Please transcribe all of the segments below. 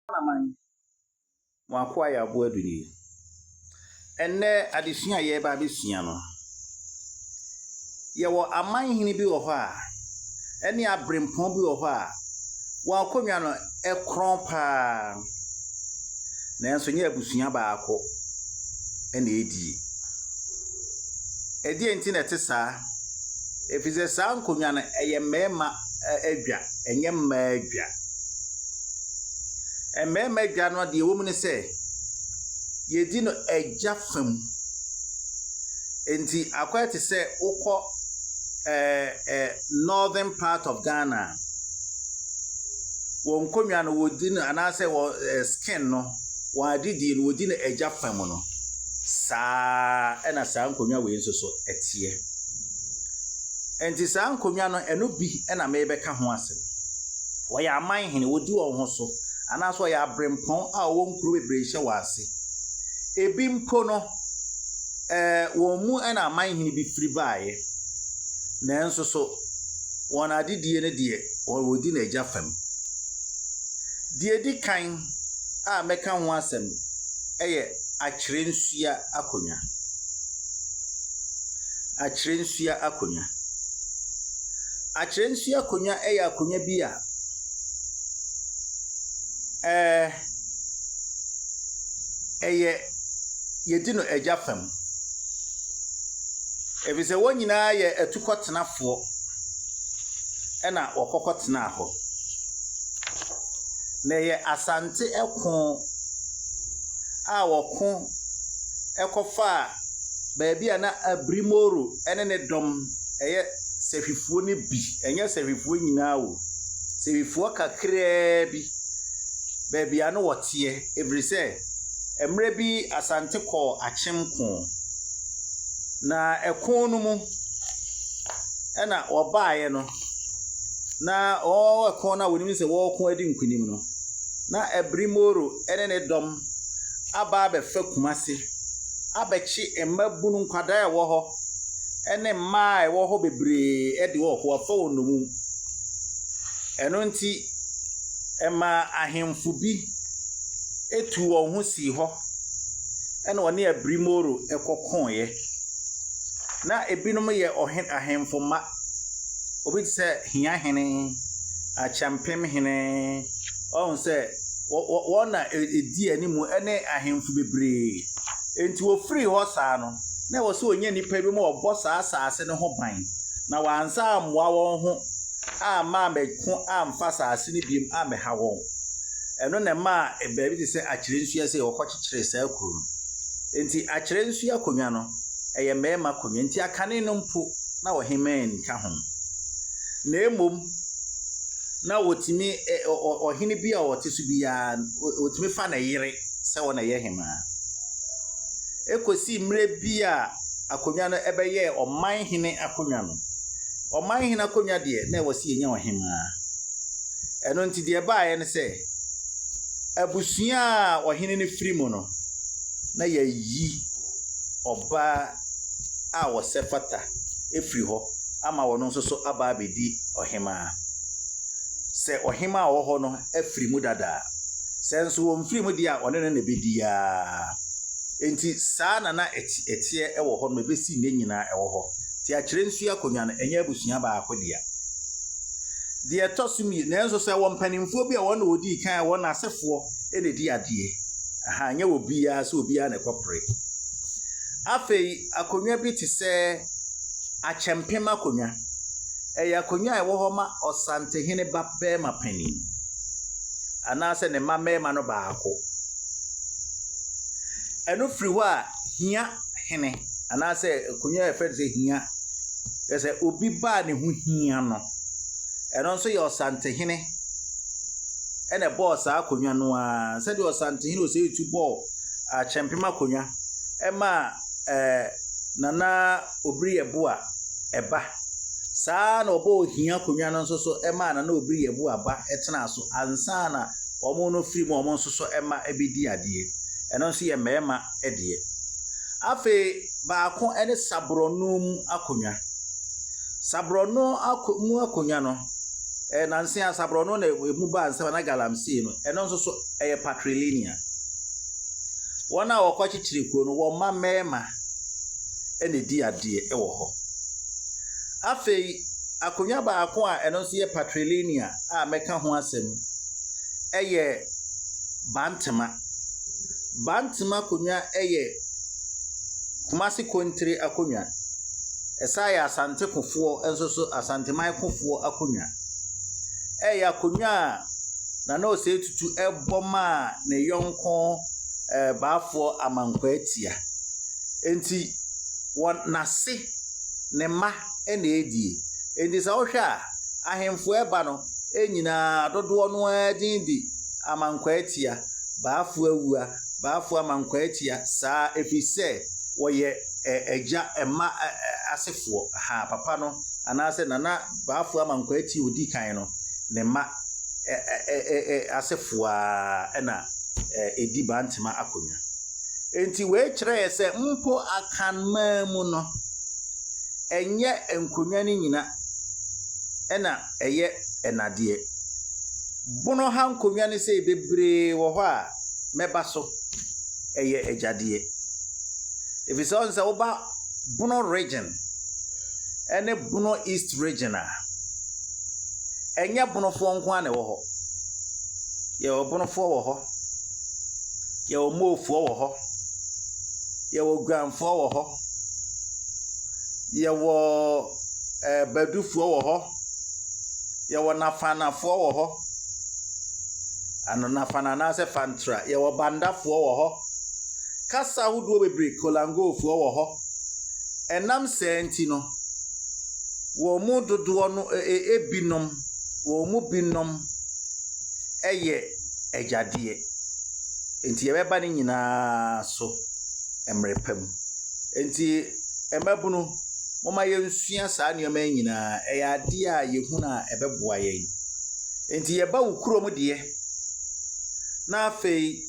Amanaman, mo akoa yɛ aboa du ni. Ɛnnɛ adesua a yɛreba abɛsua no, yɛwɔ aman hene bi wɔ hɔ a, ɛne aberempɔn bi wɔ hɔ a, wɔn akonnwa no ɛkorɔn paa. Nanso nyɛ abusua baako ɛna ɛdie. Ɛdeɛ nti na ɛte saa, ɛfiri sɛ saa nkonnwa no ɛyɛ mmarima adwa, ɛnyɛ mmaa adwa. Mmarima adwa no deɛ ɛwɔ mu ne sɛ, yɛdi no agya fa mu. Enti akɔyɛ te sɛ wokɔ ɛɛ ɛ northern part of Ghana a, wɔn nkonnwa no wɔdi no anaasɛ wɔn ɛɛ skin no, wɔn adedie no wɔdi no agya fa mu no. Saa ara na saa nkonnwa wei nso so teɛ. Enti saa nkonnwa no, ɛno bi na merebɛka ho asɛm. wɔyɛ aman hene, wɔdi wɔn ho so, anaasɛ wɔyɛ aberempɔn a wɔwɔ nkuro bebree hyɛ wɔn ase. Ebi mpo no, ɛɛ wɔn mu na aman hene bi firi baeɛ. Nanso so, wɔn adedie no deɛ, wɔdi n'agya fam. Deɛ ɛdi kan a mɛka ho asɛm yɛ akyerɛnsua akonnwa. Akyerɛnsua akonnwa. Akyerɛ nsi akonnwa yɛ akonnwa bi a ɛyɛ yɛdi no agya fam. Efisɛ wɔn nyinaa yɛ atukɔtenafoɔ na wɔkɔkɔ tenaa hɔ. Na ɛyɛ Asante ko a wɔko kɔfaa baabi a na Abirimoru ne ne dɔm yɛ. sahwifoɔ no bi, ɛnyɛ sahwifoɔ nyinaa o, sahwifoɔ kakraa bi, baabi a na wɔteɛ, ɛfiri sɛ mmerɛ bi Asante kɔɔ akyem ko, na ɛko no mu ɛna wɔbaeɛ no, na wɔn ɛko no a wɔnim sɛ wɔreko adi nkunim no, na Abiri Moro ne ne dɔm aba abɛfa Kumase abɛkye mmabunu nkwadaa a ɛwɔ hɔ. ne mmaa a ɛwɔ hɔ bebree de wɔn ho afa wɔn nnommum. Ɛno nti, ɛmaa ahemfo bi tuu wɔn ho sii hɔ na wɔne Abrimoro kɔkoeɛ. Na ebinom yɛ ɔhe ahemfo mma. Obi te sɛ Hiahene, Acheampemhene. Wahu sɛ wɔ wɔ wɔn na ɛdi anim ne ahemfo bebree. Enti wɔfirii hɔ saa no, na ɛwɔ sɛ ɔnya nnipa bi ma wɔbɔ saa asase no ho ban, na wɔansa ammoa wɔn ho amma ammɛko amfa asase no bio ammɛha wɔn. Ɛno na ɛmaa baabi te sɛ Akyerɛnsua sei wɔkɔkyekyeree saa kuro no. Enti Akyerɛnsua akonnwa no, ɛyɛ mmarima akonnwa, nti akane no mpo na ɔhemmaa nka ho. Na mmom na wɔtumi, ɔhene bi a ɔte so biara, wɔtumi fa ne yere sɛ ɔna ɛyɛ hemaa. kɔsii mmerɛ bi a akonnwa no bɛyɛɛ ɔman hene akonnwa no. Ɔman hene akonnwa deɛ, na ɛwɔ sɛ yɛnya ɔhemaa. Ɛno nti deɛ ɛbaeɛ ne sɛ, abusua a ɔhene no firi mu no, na yɛayi ɔbaa a ɔsɛ fata firi hɔ ama ɔno nso so aba abɛdi ɔhemaa. Sɛ ɔhemaa a ɔwɔ hɔ no afiri mu dada a, sɛ nso ɔmfiri mu deɛ a, ɔne no na ɛbɛdi ara. Enti saa na na ɛteɛ wɔ hɔ no ma ɛbɛsi nnɛ nyinaa ɛwɔ hɔ. Enti akyerɛ nsuo akonnwa no, ɛnyɛ abusua baako dea. Deɛ ɛtɔ so mmienu, nanso sɛ ɛwɔ mpanimfoɔ bi a wɔn na wɔdii kan a wɔn asefoɔ na ɛdi adeɛ. Aha, ɛnyɛ wɔ biara sɛ obiara na ɛkɔpere. Afei akonnwa bi te sɛ akyɛmpem akonnwa. Ɛyɛ akonnwa a ɛwɔ hɔ ma ɔsantehene ba barima panin anaasɛ ne mma mmarima no baako. Ɛno firi hɔ a, hia hene anaasɛ akonnwa a yɛfrɛ no sɛ hia. Kyerɛ sɛ obi ba a ne ho hia no. Ɛno nso yɛ Ɔsantehene na ɛbɔɔ saa akonnwa no ara. Sɛdeɛ Ɔsantehene Osei Tutu bɔɔ Akyɛmpem akonnwa maa ɛɛ Nana. Obiri yɛ bo a ɛba. Saa ara na ɔbɔɔ ohia akonnwa no nso so maa na na obiri yɛ bo a ba tenaa so ansa na wɔn no firi mu a wɔn nso so mma bɛdi adeɛ. Ɛno nso yɛ mmarima deɛ. Afei baako ne saborɔno mu akonnwa. Saborɔno ako mu akonnwa no, eh, nanse a saborɔno na ɛmu baa nsɛm na galamsey no, ɛno nso so ɛyɛ patrilineal. Wɔn a wɔkɔkyekyere kuro no, wɔn mma mmarima na edi adeɛ wɔ hɔ. Afei akonnwa baako a ɛno nso yɛ patrilinear a mɛka ho asɛm yɛ Bantama. Bantama akonnwa yɛ Kumasi Kontire akonnwa. Ɛsan yɛ Asantekofoɔ nso so Asanteman kofoɔ akonnwa. Ɛyɛ akonnwa a Nana Osei Tutu bɔ maa ne yɔnko ɛɛ Baafoɔ Amankwaa Atia. Enti wɔn, n'ase, ne mma na edie. Enti sɛ wohwɛ a, ahemfo a ɛba no nyina ara dodoɔ no ara din de Amankwaatia, Baafoawua, Baafoamankwaatia, saa, ɛfiri sɛ wɔyɛ ɛ, agya, mma ɛ, ɛ, asefoɔ, ha, papa no, anaasɛ Nana Baafoamankwaatia ɔdi kan no, ne mma ɛ, ɛ, ɛ, ɛ, asefoɔ ara na ɛdi Bantema akonnwa. Enti wei kyerɛ yɛn sɛ mpo Akanman mu no, ɛnyɛ nkonnwa no nyina na ɛyɛ nnadeɛ. Bono ha nkonnwa no sei bebree wɔ hɔ a mɛba so, ɛyɛ agyadeɛ. Ɛfiri sɛ ɔn sɛ woba Bono region ɛne Bono East region a, ɛnyɛ Bonofoɔ nko ara na ɛwɔ hɔ. Yɛwɔ Bonofoɔ wɔ hɔ. Yɛwɔ moofoɔ wɔ hɔ. Yɛwɔ guanfoɔ wɔ hɔ. Yɛwɔ ɛɛ badufoɔ wɔ hɔ. Yɛwɔ nafanafoɔ wɔ hɔ. Ano nafana anaasɛ fantra. Yɛwɔ bandafoɔ wɔ hɔ. Kasa ahodoɔ bebree, kolangofoɔ wɔ hɔ. Ɛnam saa nti no, wɔn mu dodoɔ no e e ebinom, wɔn mu binom yɛ. Agya deɛ. Enti yɛbɛba ne nyinaa so mmerɛ pa mu. Enti mmabunu, momma yɛnsua saa nneɛma yi nyinaa. Ɛyɛ adeɛ a yɛhunu a ɛbɛboa yɛn. Enti yɛba wo kurom deɛ, na afei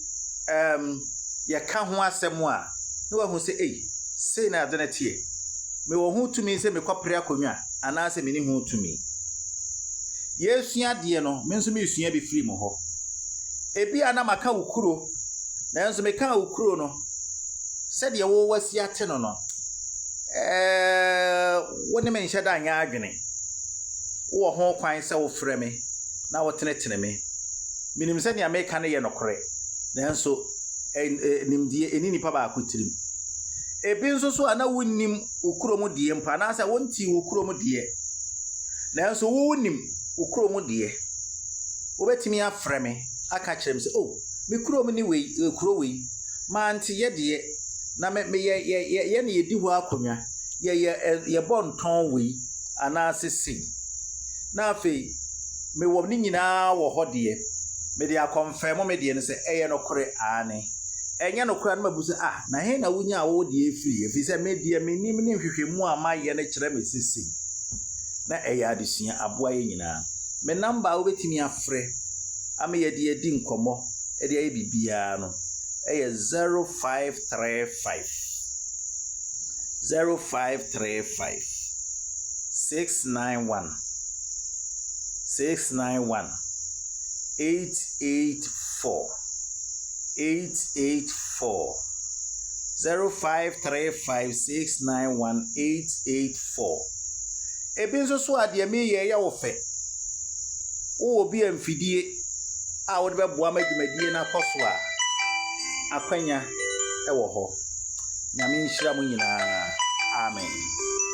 um, yɛka ho asɛm a, na wahu sɛ, ei, sei na ade no teɛ. Mewɔ ho tumi sɛ mekɔpere akonnwa anaasɛ mene ho tumi. Yɛresua adeɛ no, me nso meresua bi firi mo hɔ. Ebia na maka wo kuro, nanso mekaa wo kuro no sɛdeɛ wo wasi ate no no, ɛɛ, wo ne me nhyɛ da nyɛ adwene. Wowɔ ho kwan sɛ wofrɛ me na wotenetene me. Menim sɛ nea meka no yɛ nokorɛ, nanso nimdeɛ ɛni nipa baako tirim. Ebi nso so a na wonnim wo kurom deɛ mpo anaasɛ wontee wo kurom deɛ nanso wonim wo kurom deɛ wobɛtumi afrɛ me aka kyerɛ me sɛ o oh, me kurom ne wei eh, kuro wei mante yɛ deɛ na me yɛ yɛ yɛ yɛ ne yɛdi hɔ akonnwa yɛ yɛ eh, yɛbɔ ntɔn wei anaasɛ sei na afei mewɔ ne nyinaa wɔ hɔ deɛ mede akɔmfɛn mo me deɛ no sɛ ɛyɛ nokorɛ aane Ɛnyɛ no koraa no mabu sɛ, Ah, na he na wunyaa wo deɛ firi? Ɛfiri sɛ me deɛ menim ne nhwehwɛmu a mayɛ no kyerɛ me se sei. Na ɛyɛ adesua, aboa yɛ nyinaa. Me namba a wobɛtumi afrɛ ama yɛde adi nkɔmmɔ de ayɛ biribiara no yɛ 0535 0535 691 691 884 eight eight four zero five three five six nine one eight eight four ebi nso so a deɛ meyɛ yɛ wo fɛ wowɔ bi a mfidie a wode bɛboa ma dwumadie no akɔ so a akwanya wɔ hɔ nyame nhyira mu nyinaa amen